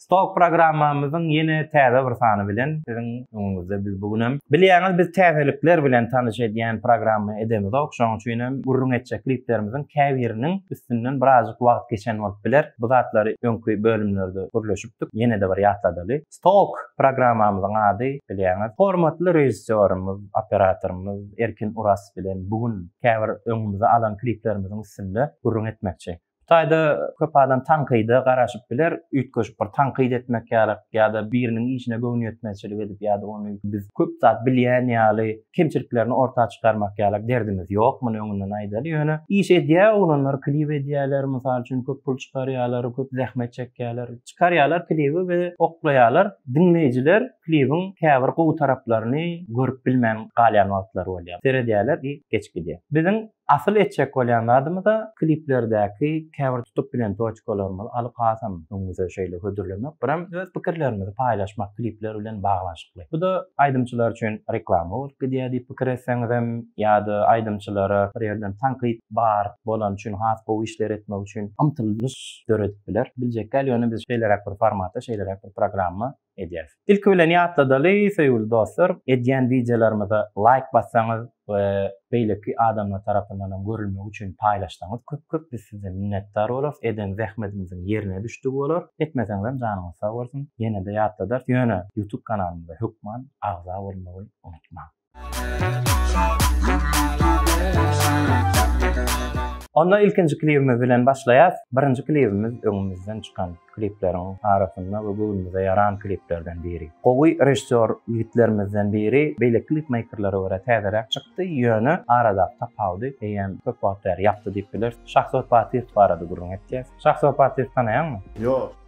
Stok programmamyzyň ýene täze bir sany bilen siziň öňüňizde biz bu gün hem. Bilýäňiz biz täzelikler bilen tanyş edýän programma edemizok, şonuň üçin hem gürrüň etjek kliplerimiziň käbiriniň üstünden birazjyk wagt geçen bolup biler. Bu zatlary öňki bölümlerde gürleşipdik, ýene-de bir ýatladaly. Stok programmamyzyň ady bilýäňiz, hormatly režissýorymyz, operatorymyz Erkin Oraz bilen bu gün käbir öňümize alan kliplerimiziň üstünde gürrüň etmekçi. Bu taýda köp adam tankyda garaşyp biler, üýtgeşik bir tankyt etmek ýaly ýa-da biriniň işine göwnüýetmezçilik edip ýa-da ony biz köp zat bilýän ýaly kemçiliklerini orta çykarmak ýaly derdimiz ýok, muny öňünden aýdaly. Ýöne iş edýär oglanlar, klip edýärler, mysal üçin köp pul çykarýarlar, köp zähmet çekýärler. Çykarýarlar klibi we oklaýarlar. Diňleýjiler klibiň käbir gowy taraplaryny görüp bilmän galýan wagtlary bolýar. Seredýärler i geçip gidýär. Biziň Asyl etjek bolýan zadymyz-a kliplerdäki käbir tutup bilen toçkalarymyzy alyp hasam öňümize şeýle hödürlemek, birem öz pikirlerimizi paýlaşmak klipler bilen baglanyşykly. Bu-da aýdymçylar üçin reklama bolup gidýär diýip pikir etseňizem ýa-da aýdymçylara bir ýerden tankyt bar bolany üçin has gowy işler etmek üçin ymtylyş döredip biler. Biljekgäl ýöne biz şeýleräk bir formata, şeýleräk bir programma edýäs. Ilki bilen ýatladaly söýgüli dostlar, edýän wideolarymyza laýk bassaňyz we beýleki adamlar tarapyndan hem görülmegi üçin paýlaşsaňyz köp köp biz size minnetdar bolarys, eden zähmetimiziň ýerine düşdügi bolar, etmeseňizem janyňyz sag bolsun, ýenede ýatladarys, ýöne YouTube kanalymyza hökman agza bolmagy unutmaň. Onda ilkinji klibimiz bilen başlaýas. Birinji klibimiz öňümizden çykan klipleriň arasynda we göwnümize ýaran kliplerden biri. Gowy režissýor ýigitlerimizden biri beýle klipmeýkerlere görä täzeräk çykdy, ýöne aradaky tapawudy eýýäm köp wagt bäri ýapdy diýip bileris. Şahsot Batyýew barada gürrüň etjek. Şahsot Batyýewi tanaýaňmy? Ýok.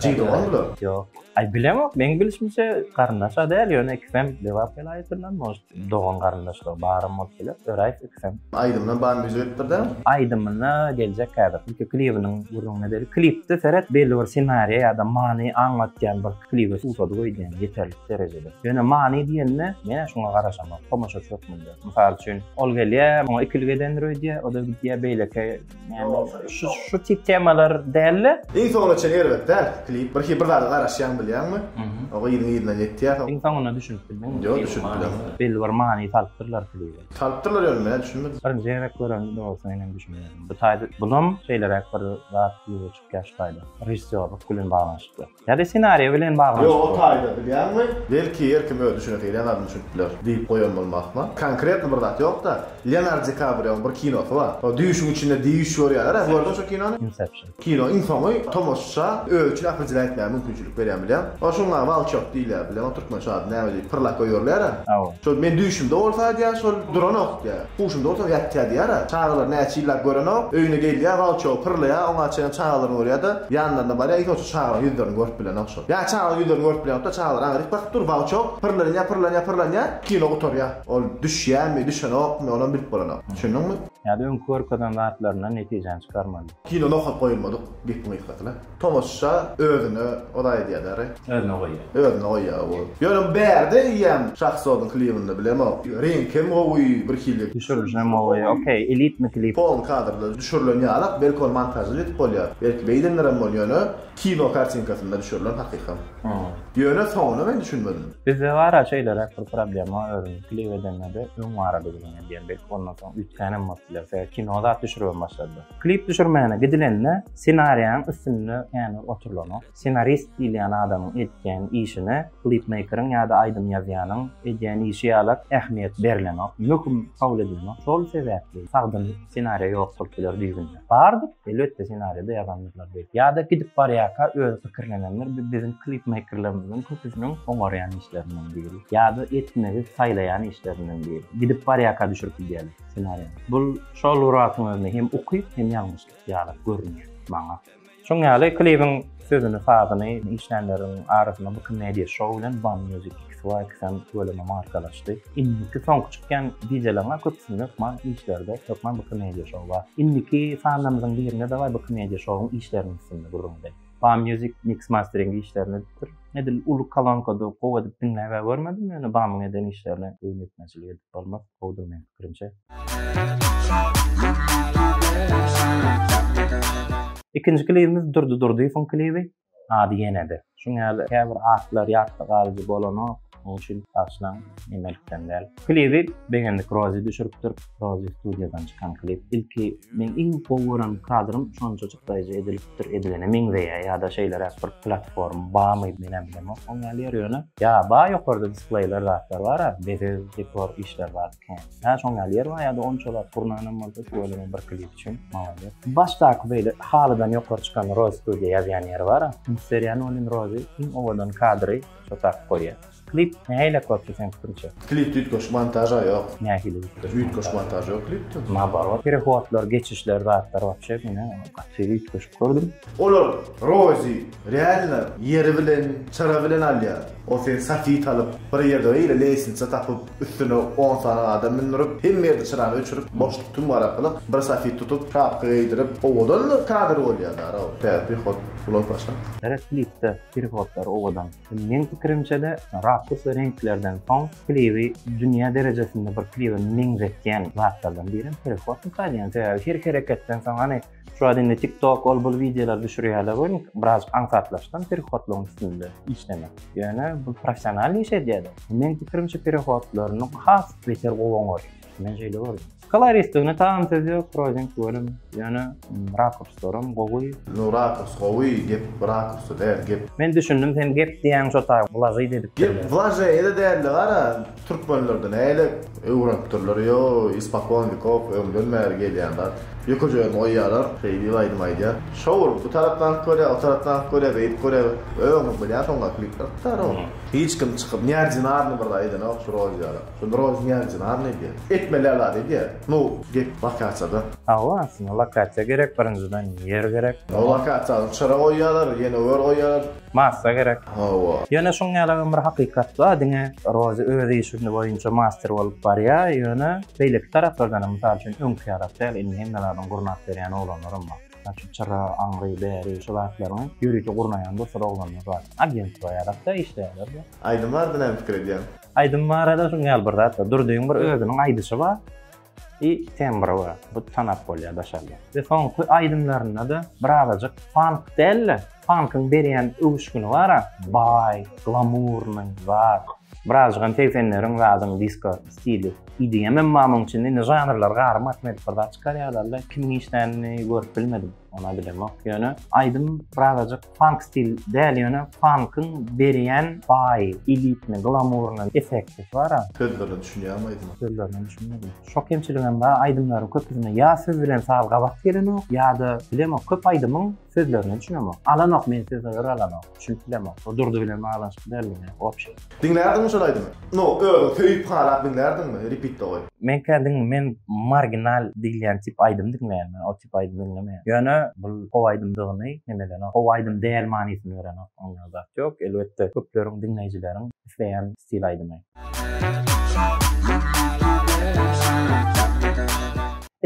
Jigdewar-la? Ýok. Aý, bilemok, meň bilişimçe, garyndaş-a däl, ýöne ikisem Lebap welaýatyndan, может, dogan-garyndaşlygy baram bolup biler, öraýys ikisem. Aýdymyna bar müzik edip bir däl? Aýdymyna geljek häzir. Ilki klibiniň gürrüňine deli. Klipde seret, belli bir senariýa ýa-da many aňlatýan bir klibe suwsady goýdýan ýeterlik derejede. Ýöne many diýende, men-ä şuňa garaşamok, tomaşaçy hökmünde. Mysal üçin, ol gelýär, oňa ikilik edendir öýdýär, o-da gidýär beýleki Şu şu tip temalar däldi. Iň soňuna çenli erbet däl klip. Bir bir zada garaşýaň bilýäňmi? Oňa ýygyň ýygyna ýetýär. Iň soňuna düşünip bildiňmi? Ýok düşünip bilemok. Belli bir many salypdyrlar klibe. Salypdyrlar ýöne men düşünmedim. Birinji gezek gören dogrusu men hem düşünmedim. Bu taýda bulam şeýleräk bir zat ýüze çykýar şu taýda. Režissýorlyk bilen baglanyşykly. Ýa-da ssenariýa bilen baglanyşykly. Ýo-o taýda bilýäňmi? Belki her kim öz düşünesi gelýän zadyny düşünip biler diýip goýan bolmakmy? Konkretno bir zat ýok-da. Leonardo Di Kabrioň bir kinosy bar. Ol düýşüň içinde düýş görýärler-ä. Gördüňmi şo kinony? Inception. Kino iň soňy tomaşaça özi üçin akyljyra etmäge mümkinçilik berýän bilem. Ol şuňa Walçok diýilýär bilem. Ol türkmençe ady näme diýip pyrlap goýberler-ä. Aw. Şol men düýşümde bolsa aýdýar şol duranok diýýär. Huşunda bolsaň ýatýa diýýär-ä. Çagalar näçe ýyllap görenok. Öýüne gelýä, gauçogy pyrlaýa, oňa çenli çagalaryny görýä-de, ýanlaryna barýa, hiç bolsa çagalaryň ýüzlerini görüp bilenok şol. Ýa çagalaryň ýüzlerini görüp bilenok-da, çagalar aňa dik bakyp dur, gauçok pyrlanýa, pyrlanýa, pyrlanýa, kino gutarýa. Ol düşýämi, düşenokmy, onam bilip bolanok. Düşündiňmi? Ýa-da öňki görkezen zatlaryndan netijäni çykarmaly. Kino nokat goýulmadyk gepiň gysgasy-la. Tomusha özüne ola edýä dä re. Özüne goýýa. Özüne goýýa ow. Ýöne bärde eýýäm Şahzodyň klibinde bilemok. Reňki hem gowy birhili. Düşürilişi hem gowy. Okey elitmi klip. Polny kadrda düşürilen ýalak belki ol montažda ýetip bolýar. Belki beýdendirem bol ýöne kino kartinkasynda düşürilen hakykam. Ýöne soňuna men düşünmedim. Bizde bara şeýleräk bir problema özümiz klip edendede öň barady gülüňe diýen belki ondan soň üýtgänem bolup biler sebäbi kino zat düşüribem başladylar. Klip düşürmäne gidilende ssenariýaň üstünde ýany oturylanok. Ssenarist diýilýän adamyň etýän işine klipmeýkeriň ýa-da aýdym ýazýanyň edýän işi ýalak ähmiýet berilenok, möhüm kabul edilenok. Şol sebäpli sagdyn ssenariýa ýok bolup biler düýbünde. Bardyr, elbetde ssenariýada ýazandyrlar beýdip. Ýa-da gidip barýarka özi pikirlenendir, bu biziň klipmeýkerlerimiziň köpüsiniň oňarýan işlerinden biri. Ýa-da etmegi saýlaýan işlerinden biri. Gidip barýarka düşürip gidýärler. ssenariýa. Bul şol Muradyň özüne hem ukyp, hem ýalňyşlyk ýaly görünýär maňa. Şoň ýaly klibiň sözüni, sazyny işlänleriň arasynda Booking Media Show bilen Bam Music XYXM bölümi markalaşdy. Indiki soňky çykýan dijeleriň-ä köpüsinde hökman işlerde hökman Booking Media Show bar. Indiki sanlarymyzyň birinde dawaý Booking Media Show-yň işleriniň üstünde gürrüňdeý. Bam Music mix mastering işlerini edipdir. Edil uly kolonkada gowy edip diňläp-ä görmedim, ýöne Bamyň eden işlerine boýun ýetmezçilik edip bolmaz. Gowudyr meň pikirimçe. Ikinji klibimiz Durdy Durdyýewiň klibi. Ady ýene-de. Şuň ýaly käbir atlar ýatda galyjy bolanok. Onuň üçin bagyşlaň, emelikden däl. Klibi begendik Rozi düşüripdir. Rozi studiýadan çykan klip. Ilki meň iň gowy gören kadrym şonça Hytaýja edilipdir, edilene meňzeýär ýa-da şeýleräk bir platforma barmy menem bilemok oň ýaly ýeri ýöne ýa bar ýokarda displeýler zatlar bara bezeg dekor işler bar kän ýa şoň ýaly ýeri bar ýa-da onçalar gurnanam bolsa şu bölümiň bir klip üçin maladýes başdaky beýle halydan ýokary çykan roz studio ýazýan ýeri bara ýa nolin rozy iň owadan kadry şo tagt goýýar. Klip nähili köpdi seň pikriňçe? Klipde üýtgeşik montaža ýok. Nähili üýtgeşik? Üýtgeşik montaž ýok klipde. Naobarot perehodlar, geçişler zatlar wapşe meni gaty üýtgeşik gördüm. Olar Rozi realno ýeri bilen çyra bilen alýar. Ol seni safit alyp bir ýerde beýle leýsnitsa tapyp üstüne on sany adam mündürip hemme ýerde çyrany öçürip boşluk tüm garakylyk bir safit tutup şapka geýdirip owadan kadr bolýa daro. Täze prihod ulag başa. Gerek klipde perihodlar owadan. Meň pikirimçede rakusa reňklerden soň klibi dünýä derejesinde bir klibe meňzetýän zatlardan birem perifotnik aýdýan. Sebäbi her hereketden soň hany şu wagt indi tik tok ol bul wideolar düşürýärler welin biraz aňsatlaşdym perifotlygyň üstünde işlemek. Ýöne bu professional iş edýärler. Meň pikirimçe perifotlaryny has beter gowy oňarýar. Men şeýle gördüm. Koloristigini tagam söz ýok, Projeň welin, ýöne rakurslaram gowy. Nu rakurs gowy, gep rakursda däl, gep. Men düşündim sen gep diýýäň şo taýy wlažeý dedipdirler. Gep wlažeýde däldi gara türkmenlerde näle öwrenipdirler ýo ispakon wekov öňden bäri gelýän zat ýökejegirini goýýalar şeý diýip aýdym aýdýar şo bolup bu tarapdanky görýär o tarapdanky görýär beýdip görýär öňňi bilýän soňňa klipler tutar o hiç kim çykyp neordinarny bir zat edenok şu rolyýalar. Zymyrow diýýän jynarny edýär. Etmeli alada edýär. Nu, get, lokasiýada. Hawa, aslynda lokasiýa gerek, birinjiden ýer gerek. O lokasiýany çyra goýýarlar, ýene ör goýýarlar. Massa gerek. Hawa. Ýöne şuň ýalagam bir hakykat bar, diňe Rozi öz işini boýunça master bolup barýar, ýöne beýleki taraplardanam, mysal üçin öňki ýalak däl, indi hemme zadyny gurnap berýän oglanlaram bar. şu çyra, aňry, bäri, şu zatlaryňy ýörite gurnaýan dostlar oglanlar bar. Agentstwo ýarap-da işleýärler. Aýdym barada näme pikir edýäň? Aýdym barada şunuň ýaly bir zat bar. Durdyň bir özüniň aýdyşy bar i tembry bar. Bu tanap bolýar daşarda. We soňky aýdymlarynda-da birazajyk funk däl-de, funkyň berýän öwüşgini bar-a, baý, glamurnyý, zat. Birazjygam segsenleriň zadyň disko stili EDM em bar muň içinde indi žanrlar garym atmedik bir zat çykarýarlarda kimiň işlänini görüp bilmedim ona bilemok ýöne aýdym birazajyk funk stil däl ýöne funkyň berýän baý elitni glamurny effekti bara. Sözlerine düşünýäňmi aýdyma? Sözlerine düşünmedim. Şo kemçiligem bar aýdymlaryň köpüsinde ýa söz bilen saz gabat gelenok ýada bilemok köp aýdymyň Sözlerine düşünemok. Alanok men sizi ör alanok. Düşünip bilemok. Bu Durdy bilen baglanyşykly däldigine wobşe. Diňlärdiňmi şol aýdymy? No özüň söýüp halap diňlärdiňmi? Repeatde goý. Men kä diňl men marginal diýilýän tip aýdym diňleýän men o tip aýdym diňlemeýän ýöne bul how aýdymdygyny hem edenok how aýdym däl manysyny berenok oňa zat ýok elbetde köpleriň diňleýjileriň isleýän stil aýdymy.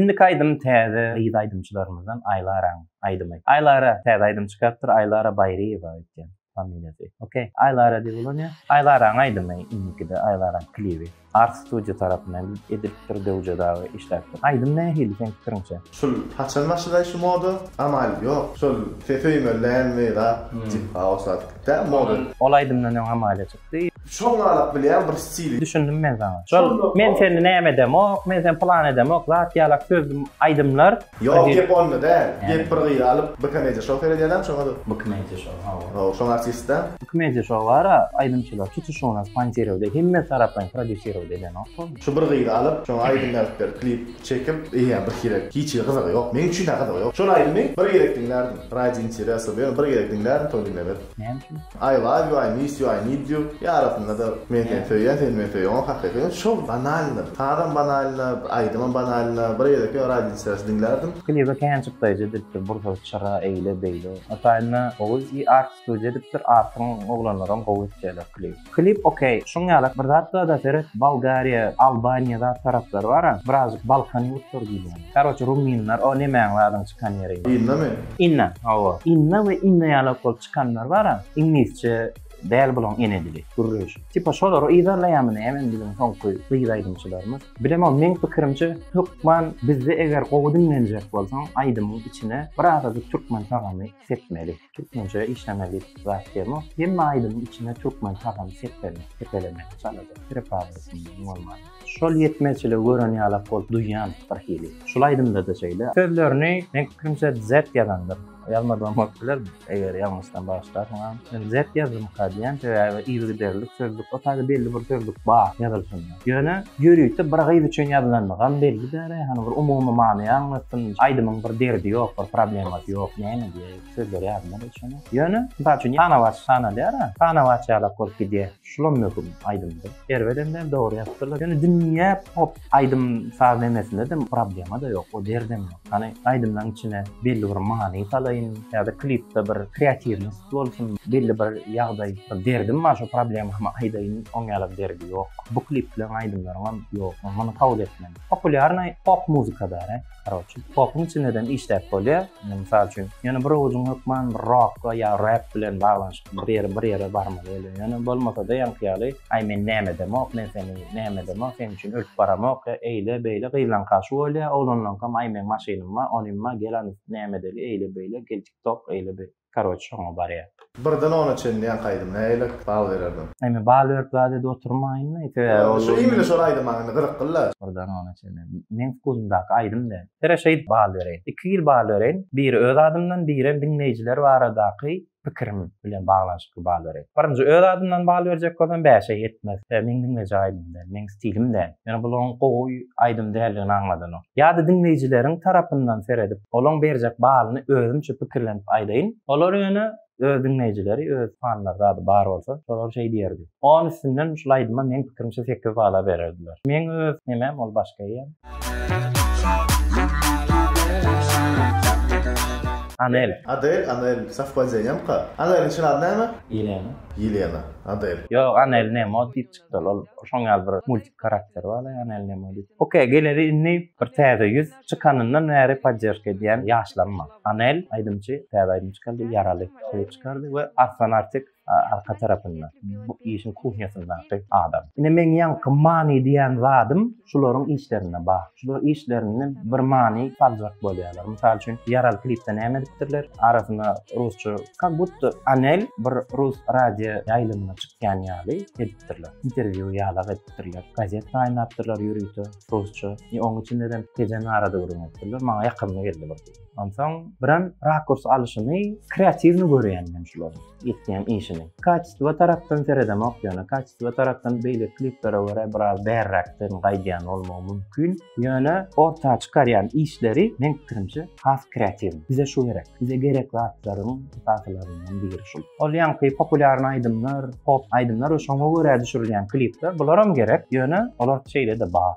Indiki aýdym täze gyz aýdymçylarymyzdan Aýlaraň aýdymy. Aýlara täze aýdym çykarypdyr, Aýlara Baýryýewa öýtýän familiýasy. Okey. Aýlara diýip ulanýar. Aýlaraň aýdymy indikide Aýlaraň klibi Ars Studio tarapyndan edilipdir, Döwje dagy işläpdir. Aýdym nähili seň pikiriňçe? Şul haçan başlay şu moda? Amaly ýok. Şol ses öýmeli dälmi zat? Diýip hawa şuwagt gitdä moda. Ol aýdymdan öň Amalia çykdy. Çommalyk bilýän bir stil. Düşündim men saňa. Şol men seni näme edemok, men seni pylan edemok, zat ýalak söz aýdymlar. Ýok gep onda däl. Gep bir gyzy alyp bu komediýa şou seredýädäm şoňada. Bu komediýa şou hawa. Hawa şoň artistdä. Bu komediýa şou bara aýdymçylar tutuşyna sponsirovde hemme taraplaýyn prodýusirovde edenok bu. Şu bir gyzy alyp şoňa aýdym ýazyp berip klip çekip eýýäm bir sirek hiç hili gyzygy ýok meň üçin-ä gyzygy ýok. Şol aýdymy bir gezek diňlärdim. Radi interesa ýöne bir gezek diňlärdim soň diňlemezdim. Näme üçin? I love you I miss you I need you ýa arasynda-da men seni söýýän sen meni söý oňa hakyky ýöne şol banalnyr sazam banalny aýdymam banalny bir ýereki radio diýseris diňlärdim. Klibe kän çykdaýjy edilipdir bursa çyra eýle beýle. Ataýyna oguz i art studio edipdir artyň oglanlaram gowy etýäler klip. Klip ok şuň ýalak bir zat barda seret Bolgariýa Albaniýa zat taraplar bara birazjyk Balkan ýurtlary diýilýän karoçe ruminler o nemäň zadyň çykan ýeri. Inna mi? Inna hawa Inna we Inna ýalak bolup çykanlar bara iňlisçe däl bulaň ene dili gürleýşi tipa şolary yzarlaýamy näme biziň soňky gyz aýdymçylarymyz bilemok meň pikirimçe hökman bizde eger gowy diňlenjek bolsaň aýdymyň içine birazajyk türkmen tagamy sepmeli. Türkmençe işleme diýip zat demo. Hemme aýdymyň içine türkmen sazam seplenip sepelemeli çalada prepawasynyň bolman. Şol ýetmezçiligi gören ýalak bolup duýýan bir hili. Şul aýdymdada şeýle. Sözlerini meň pikirimçe Dzed ýazandyr. Ýazmadygam bolup biler eger ýalňyşsam bagyşlarsyňam. Men Dzed ýazdymyka diýýän sebäbi yzygiderlilik sözlük o taýda belli bir sözlük bar ýazylşynda. Ýöne ýörite bir gyz üçin ýazylandygam belli däle hany bir umumy many aňlatsyn aýdymyň bir derdi ýok bir problemasy ýok näme diýä. Sözleri ýadymda däl şonuň. Ýöne, mysal üçin, Tanawaç tanalýar-a, Tanawaç ýalak bolup gidýär. Şulam möhüm aýdymda. Erbedem däl, dogry ýazypdyrlar. Ýöne dünýä pop aýdym-saz nemesinde-de problema-da ýok, o derdem ýok. Hany, aýdymlaryň içine belli bir many salaýyn, ýa-da klipde bir kreatiwnost bolsun, belli bir ýagdaý, bir derdim bar, şo problemamy aýdaýyn, oň ýaly bir derdi ýok. Bu klipleriň, aýdymlaryňam ýok, muny kabul etmeli. Populýarnaý pop muzykada-da. Karoçi, popyň içindeden işläp bolýar. Indi mysal üçin, ýöne bir owazyň hökman bir rokga ýa rap bilen baglanyşykly bir ýere, bir ýere barmaly bolýar. Ýöne bolmasa-da ýaňky ýaly, aý men näme edemok, men seni näme edemok, seniň üçin ölüp baramok, ýa eýle, beýle, gyzlaňka şu bolýar, oglanlaňkam aý meň maşynym bar, onym bar, gel anyny näme edeli, eýle, beýle, gel tik tok, eýle, beýle. karoç şoňa barýar. Birden ona çenli ýaňky aýdym näiler bal bererdim. Indi bal berip zat edi oturmaýynda ýeke. Şu imine şol aýdym maňa indi gyzykly la. Birden ona çenli meň wkusymdaky aýdym däl. Sere şeýdip bal bereýin. Iki hili bal bereýin. Biri öz adymdan birem diňleýjiler baradaky pikirim bilen baglanyşykly bal bereýin. Birinji öz adymdan bal berjek bolsam bäşe ýetmez. Sebäbi meň diňlejek aýdymym däl. Meň stilim däl. Ýöne bul oň gowy aýdym däldigini aňladynok. Ýa-da diňleýjileriň tarapyndan seredip, olaň berjek balyny özümçe pikirlenip aýdaýyn. Olar ýöne öz diňleýjileri, öz fanlary zady bar bolsa, şolar şeý diýerdi. On üstünden şul aýdyma meň pikirimçe sekiz bala bererdiler. Meň öz nemäm ol başga ýer. Anel. Adel, Anel, sowpadeniýamka? Aneliň çyn ady näme? Ýelena. Ýelena. Adel. Ýok, Anel ne mod diýip çykýar. Şol ol şoň ýaly bir multik karakteri bar da ýagny Elnemo diýip. Ok geleli indi bir täze ýüz çykanyndan bäri podderžka edýän ýaşlarym bar. Anel aýdymçy täze aýdym çykardy Ýaraly klip çykardy we Arslan Artik arka tarapynda bu işiň kuhnýasyndaky adam. Ine meň ýaňky many diýen zadym Şularyň işlerinde bar. Şular işlerinde bir many saljak bolýarlar. Mysal üçin, Ýaral klipde näme edipdirler? Arasyna rusça, kak budda Anel bir rus radio ýaýlymyna çykýan ýaly edipdirler. Interwýu ýalak edipdirler. Gazet saýlapdyrlar ýörite rusça. Oň içinde-de Tejen Ara döwrüňi edipdirler. Maňa ýakymly geldi bir. Onsoň birem rakurs alyşyny kreatiwny görýän men şularyň etýän işini. Kaçestwo tarapdan seredemok ýöne kaçestwo tarapdan beýleki kliplere görä biraz bärräkden gaýdýan bolmagy mümkin. Ýöne orta çykarýan işleri meň pikirimçe has kreatiwny. Bize şu gerek. Bize gerek zatlaryň esaslaryndan biri şul. Ol ýaňky populýarny aýdymlar, pop aýdymlar we şoňa görä düşürilýän klipler bularam gerek. Ýöne olar şeýle-de bar.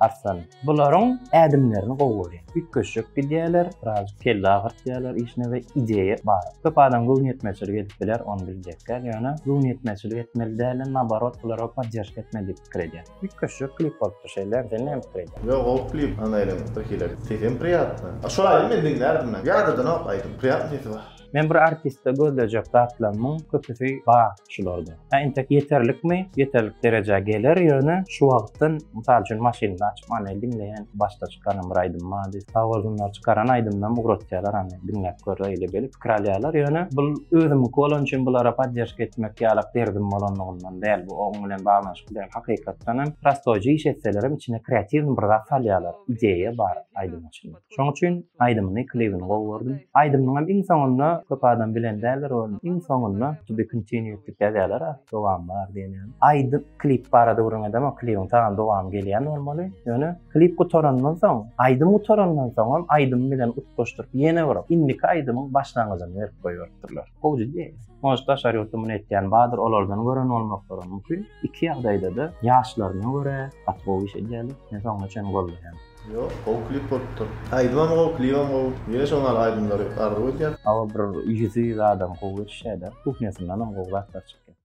Arslan, bularyň ädimlerini gowy görýän. Üýtgeşjek gidýärler, birazjyk kelle agyrtýarlar işine we ideýa bar. Köp adam göwnüýetmezçilik edip biler, ony biljek däl, ýöne göwnüýetmezçilik etmeli dälden naborot bulara podderşka etmeli diýip pikir edýän. Üýtgeşjek klip bolupdyr şeýle, sen näme pikir edýäň? Ýok gowy klip, anaýlaň bir hile. Sesem priýatno. Şol aýdymy men diňlärdim näme. Ýadadanok aýdym. Priýatno sesi bar. Men bir artistde gözlejek zatlarymyň köpüsi bar şularda. Hä intek ýeterlikmi? Ýeterlik derejä geler ýöne şu wagtdan mysal üçin maşynda açyp many diňleýän başda çykaran bir aýdym bar diýip. Sawolunlar çykaran aýdymdan ugratýarlar hany diňläp gör öýle gelip pikir alýarlar ýöne bul özümiňki bolany üçin bulara podderşka etmek ýalak derdim bolanlygyndan däl bu oň bilen baglanyşykly däl hakykatdanam prostoýja iş etselerem içine kreatiwny bir zat salýarlar ideýa bar aýdymyň içinde. Şoň üçin aýdymyny, klibini gowy gördüm. Aýdymynyň hem iň soňunda köp adam bilen däldir ony. Iň soňunda to be continued diýip ýazýarlar, a, dowam bar diýen ýaly. Aýdym, klip barada gürrüň edemok, klibiň tagam dowamy gelýän bolmaly. Ýöne klip gutarandan soň, aýdym gutarandan soňam aýdym bilen utgaşdyryp ýene bir indiki aýdymyň başlangyjyny berip goýberipdirler. Gowy jiddi. Может daşary ýurtda muny etýän bardyr, olardan gören bolmaklarym mümkin. Iki ýagdaýda-da ýaşlaryna görä gaty gowy iş edýärler. Men soňuna çenli goldaýan. Ýok gowy klip bolupdyr. Aýdymam gowy klibem gowy. Ýene şo maly aýdymlary arzuw edýän. Aga bir ýüzi zadam gowy eşdäda kuhnýasyndanam gowy zatlar çykýar.